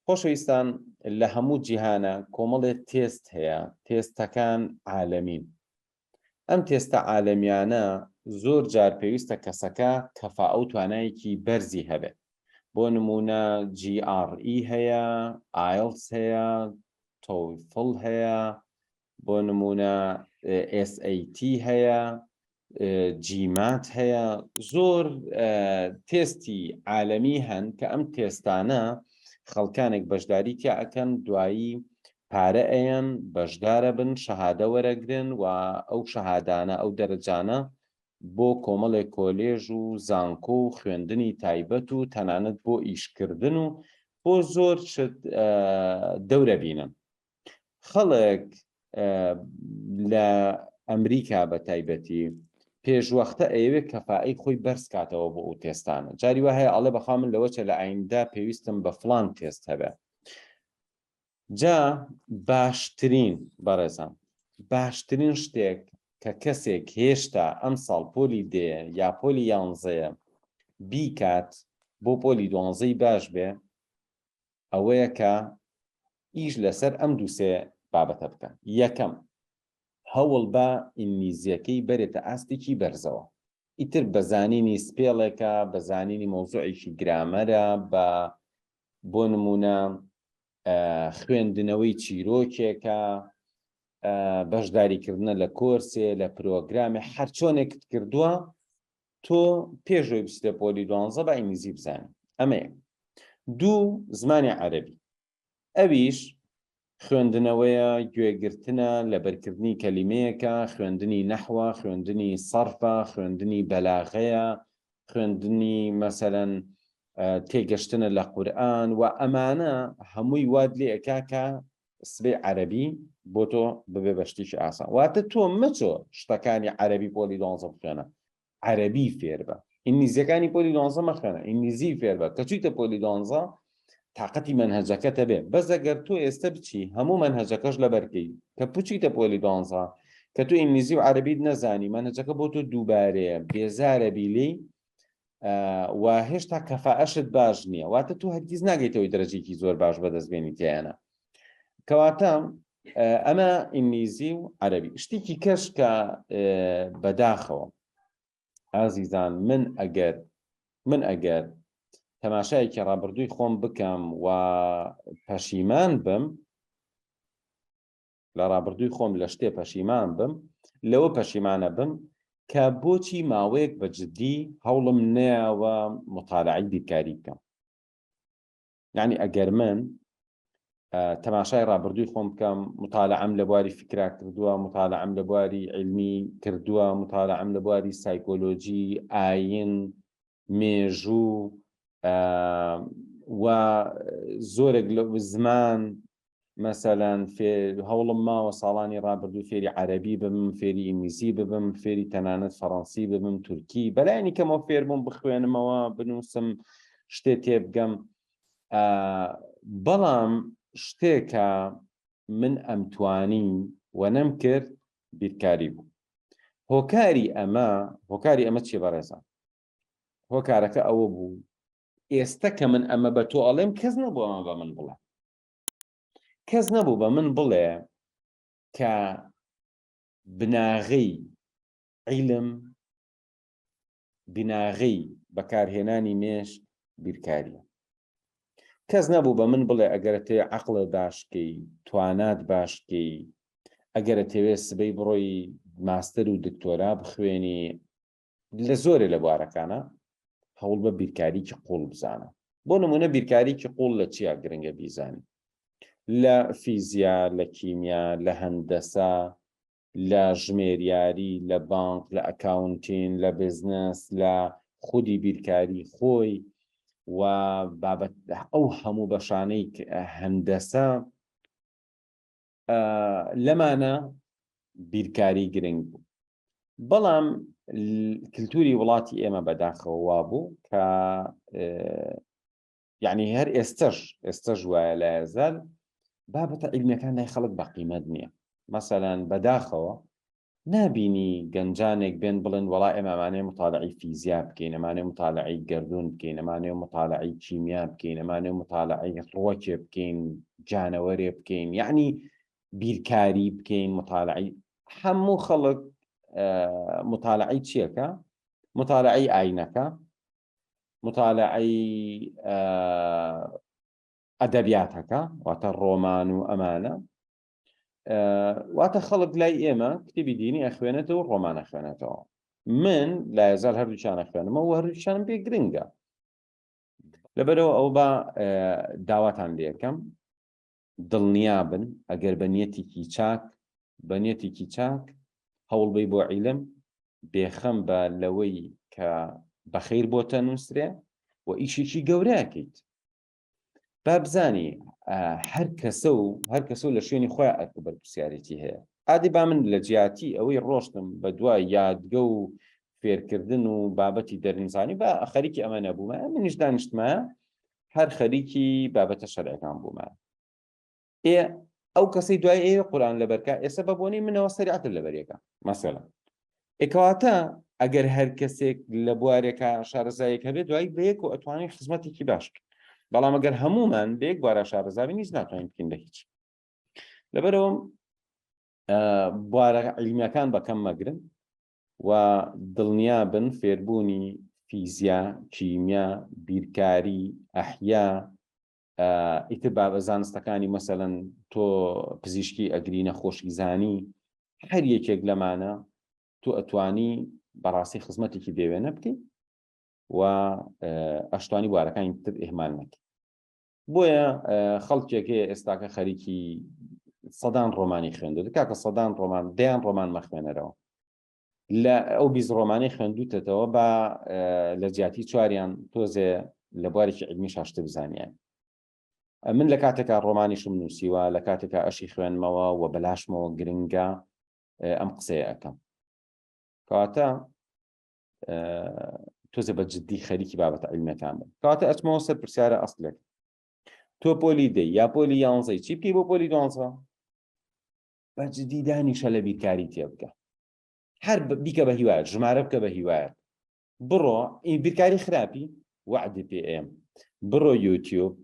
خۆشەویستان لە هەموو جیهانە کۆمەڵێ تێست هەیە تێستەکان عالەمین ئەم تێستە عالەمیانە زۆر جار پێویستە کەسەکە کەفا ئەو توانایەکی بەرزی هەبێت بۆ نمونە GRE هەیە ئایلس هەیە تۆفڵ هەیە بۆ نمونە SAT هەیە جیمات هەیە زۆر تێستی عالەمی هەن کە ئەم تێستانە خەڵکانێک بەشداری تیا ئەەکەن دوایی پارە ئەیەن بەشدارە بن شەهادە وەرەگرن و ئەو شەهادانە ئەو دەرەجانە بۆ کۆمەڵێک کۆلێژ و زانکۆ و خوێندنی تایبەت و تەنانەت بۆ ئیشکردن و بۆ زۆر شت دەورە بینن خەڵک لە ئەمریکا بە تایبەتی پێشوەختە ئەوێ کەفائی خۆی بەرز کاتەوە بۆ ئەو تێستانە جاری وە هەیە ئەڵێ بەخوا من لەوەچە لە ئایندا پێویستم بە فلان تێست هەبێ جا باشترین بەڕێزان باشترین شتێک کە کەسێک هێشتا ئەم ساڵ پۆلی دێ یا پۆلی یانزەیە بیکات بۆ پۆلی دوانزەی باش بێ ئەوەیە کە ئیش لەسەر ئەم دوو سێ بابەتە بکەن. یەکەم، هەوڵ بە ئینگلیزییەکەی بەرێتە ئاستێکی بەرزەوە. ئیتر بە زانینی سپێڵێکە، بە زانینی مەوزوعێکی گرامەرە، بە بۆ نموونە خوێندنەوەی چیرۆکێکە، بەشداریکردنە لە کۆرسێ، لە پرۆگرامێ، هەرچۆنێکت کردووە تۆ پێش ئەوەی بچیتە پۆلی دوانزە با ئینگلیزی بزانی ئەمە یەک دوو زمانی عەرەبی ئەویش خوێندنەوەیە گوێگرتنە لەبەرکردنی کەلیمەیەکە خوێندنی نەحوە خوێندنی سەرفە خوێندنی بەلاغەیە خوێندنی مەسەرەن تێگەشتنە لە قورآن و ئەمانە هەمووی واد لێ ئەکا کە سبەی عەرەبی بۆ تۆ ببێ بە شتێکی ئاسان واتە تۆ مەچۆ شتەکانی عەرەبی پۆلی دوانزە بخوێنە عەرەبی فێر بە ئینگلیزیەکانی پۆلی دوانزە مەخوێنە ئینگلیزی فێر بە کە چیتە پۆلی دوانزە تااقەتی منهجەکەتە بێ بەزەگەر تۆ ئێستا بچی هەموو منهجەکەش لە بەرکەی کە پوچیتە پۆلی دوانزە کە تۆ ئینگلیزی و عەربیت نەزانی منهجەکە بۆ تۆ دووبارەیە بێزارە بیلی و هێشتا کەفاعشت باش نییە واتە تۆ هەرگیز ناگەیتەوەی دەرەجێکی زۆر باش بەدەستبێنی تیانە کەواتە ئەمە ئینگلیزی و عەربی شتێکی کەش کە بەداخەوە ئازیزان من ئەگەر من ئەگەر تەماشایەکی ڕابردووی خۆم بکەم و پەشیمان بم لە ڕابردووی خۆم لە شتێ پەشیمان بم لەوە پەشیمانە بم کە بۆچی ماوەیەک بە جددی هەوڵم نەیەوە مطالعی بیرکاری بکەم یعنی ئەگەر من تەماشای ڕابردووی خۆم بکەم مطالعم لە بواری فکرا کردووە مطالعم لە بواری علمی کردووە مطالعم لە بواری سایکۆلۆژی ئاین مێژوو و زۆرێک لە زمان مەسەلەن فێ هەوڵم ماوە ساڵانی ڕابردوو فێری عەرەبی بم فێری ئینگلیزی ببم فێری تەنانەت فەڕەنسی ببم تورکی بەلایانی کەمەوە فێربووم بخوێنمەوە بنووسم شتێ تێبگەم بەڵام شتێکە من ئەمتوانی و نەم کرد بیرکاری بوو هۆکاری ئەمە هۆکاری ئەمە چی بەڕێزان هۆکارەکە ئەوە بوو ئێستا کە من ئەمە بە تۆ ئەڵێم کەس نەبووەمە بە من بڵێ کەس نەبوو بە من بڵێ کە بناغەی عیلم بناغەی بەکارهێنانی مێش بیرکاریە کەس نەبوو بە من بڵێ ئەگەرتێ عقلە باشکەی توانات باشکەی ئەگەرە تەوێ سبەی بڕۆی ماستەر و دکتۆرا بخوێنی لە زۆرێ لە بوارەکانە هەوڵ بە بیرکاریکی قوڵ بزانە بۆ نمونە بیرکاریکی قوڵ لە چیا گرنگە بیزانی لە فیزیا لە کیمیا لە هەندەسە لە ژمێریاری لە بانک لە ئەکاونتین لە بزنس لە خودی بیرکاری خۆی و بابەت ئەو هەموو بەشانەی هەندەسە لەمانە بیرکاری گرنگ بوو بەڵام کللتوری وڵاتی ئێمە بەداخەوە وا بوو کە یعنی هەر ئێستش ئێستش وایە لە هزار بابەتە عیلمەکان لای خەڵک بە قیمەت نییە مەسەلاەن بەداخەوە نابینی گەنجانێک بێن بڵێن وەڵا ئێمە ئەمانەیە موتالەعەی فیزیا بکەین، ئەمانەیە موتالەعەی گەردوون بکەین، ئەمانەیە موتالەعەی کیمیا بکەین، ئەمانەیە موتالەعەی ڕووەکێ بکەین، جانەوەرێ بکەین، یەعنی بیرکاری بکەین، موتالەعەی هەموو خەڵک موتالەعەی چیەکە؟ موتالەعەی ئاینەکە، موتالەعەی ئەدەبیاتەکە واتە ڕۆمان و ئەمانە، واتە خەڵک لای ئێمە کتێبی دینی ئەخوێنێتەوە ڕۆمانە خوێنێتەوە من لە هزار هەردووچانە خوێنمە و هەردووچان پێ گرنگە لەبەرەوە ئەو بە داواتان لەکەم دڵنیا بن ئەگەر بە نیەتێکی چاک بە نیەتێکی چاک هەوڵبەی بۆ عیلم بێخەم بە لەوەی کە بەخیر بۆتە نووسرێ و ئیشێکی گەورەکەیت با بزانی هەر کەسە و هەر کەسە و لە شوێنی خۆیان ئەرک و بەرپرسیارێتی هەیە ئادی با من لە جیاتی ئەوەی ڕۆشتم بە دوای یادگە و فێرکردن و بابەتی دەرنیزانی بە خەریکی ئەمە نەبوومە منیش دانیشتمە هەر خەریکی بابەتە شەرەکان بوومە ئێ ئەو کەسەی دوای ئێوە قورآن لەبەرکە ئێستا بە بۆنی منەوە سەریعتر لەبەرێکە مەسەلا ئێکەواتە ئەگەر هەر کەسێک لە بوارێکە شارەزایەک هەبێت دوای بەیەک و ئەتوانین خزمەتێکی باش بەڵام ئەگەر هەمومان بێک بارە شارەزاوی نیز ناتوانین بکەین لە هیچ لەبەرەوە بوارە علیمەکان بەکەم مەگرن و دڵنیا بن فێربوونی فیزیا کیمیا بیرکاری ئەحیا ئیتر بابە زانستەکانی مەسەەن تۆ پزیشکی ئەگری نەخۆشی زانی هەر یەکێک لەمانە تۆ ئەتوانی بەڕاستی خزمەتێکی دەوێنە بکەیت و ئەشتوانی بوارەکانی تر ئهمان نەکە بۆیە خەڵکێک هەیە ئێستاکە خەریکی سەدان ڕۆمانی خوێندو کاکە سەدان ڕۆمان دەیان ڕۆمان مەخوێنەرەوە لە ئەو بیست ڕۆمانی خوێندوتەتەوە بە لە جیاتی چواریان تۆزێ لە بوارێکی علمی شاشتە بزانیان من لە کاتێکا ڕۆمانیشم نووسیوە لە کاتێکا ئەشی خوێنمەوە و بەلاشمەوە گرنگە ئەم قسەیە ئەەکەم کەواتە تۆزە بە جددی خەریکی بابەت علمەکان بن کەواتە ئەچمەوە سەر پرسیارە ئەستلێک تۆ پۆلی دەی یا پۆلی یانزەی چی بکەی بۆ پۆلی دوانزە بە جدی دانیشە لە بیرکاری تێ بکە هەر بیکە بە هیوایە ژمارە بکە بە هیوایە بڕۆ ئی بیرکاری خراپی وعدی پێم بڕۆ یوتیوب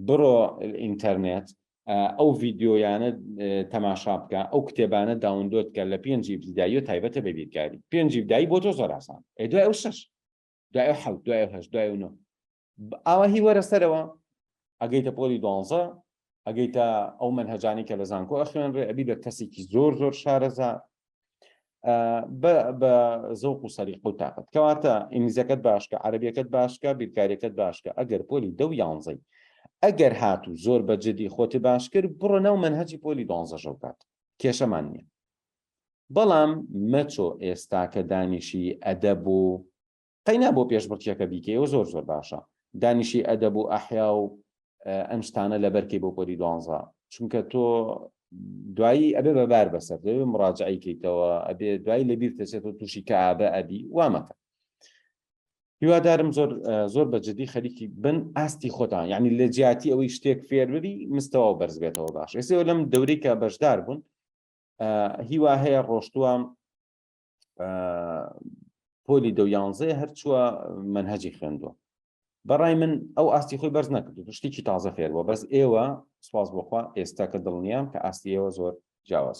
بڕۆ ئینتەرنێت ئەو ڤیددیۆیانە تەماشا بکە ئەو کتێبانە داوندۆت کە لە پێنجی بدایە تایبەتە بە بیرکاری پێنجی بدایی بۆ تۆ زۆراسان دوای ئەو شش دوای حەوت دوای هەش دوای نۆ ئاوا هی وەرە سەرەوە ئەگەیتە پۆلی دوانزە ئەگەیتە ئەو منهجانی کە لە زانکۆ ئەخوێنرێ ئەبی بە کەسێکی زۆر زۆر شارەزا بە زەوق و سەری قوت تااقت کەواتە ئینگلیزەکەت باشکە عربیەکەت باشکە بیرکاریەکەت باشکە ئەگەر پۆلی دە و یانزەی ئەگەر هات و زۆر بە جدی خۆتی باشکرد بڕۆ ناو منهجی پۆلی دۆنزەژە بکات کێشەمان نییە بەڵام مەچۆ ئێستا کە دانیشی ئەدە بوو قەینا بۆ پێشبڕکێکە بیکەی ئەوە زۆر زۆر باشە دانیشی ئەدەب و ئەحیا و ئەم شتانە لەبەرکەی بۆ پۆلی دوانزە چونکە تۆ دوایی ئەبێ بەبار بەسەر دەوێ مڕاجعی کەیتەوە ئەبێ دوایی لەبیر دەچێت و تووشی کە ئابە ئەبی وامەکە هیوادارم زۆر زۆر بە جدی خەریکی بن ئاستی خۆتان یعنی لە جیاتی ئەوەی شتێک فێر ببی مستەوە بەرز بێتەوە باش ئێسەوە لەم دەورێکە بەشدار بوون هیوا هەیە ڕۆشتووە پۆلی دە یانزەیە هەرچووە منهجی خوێندووە بەڕای من ئەو ئاستی خۆی بەرز نەکرد شتێکی تازە فێرەوە بەس ئێوە سواز بخوا ئێستا کە دڵنیام کە ئاستیەوە زۆر جیاواز.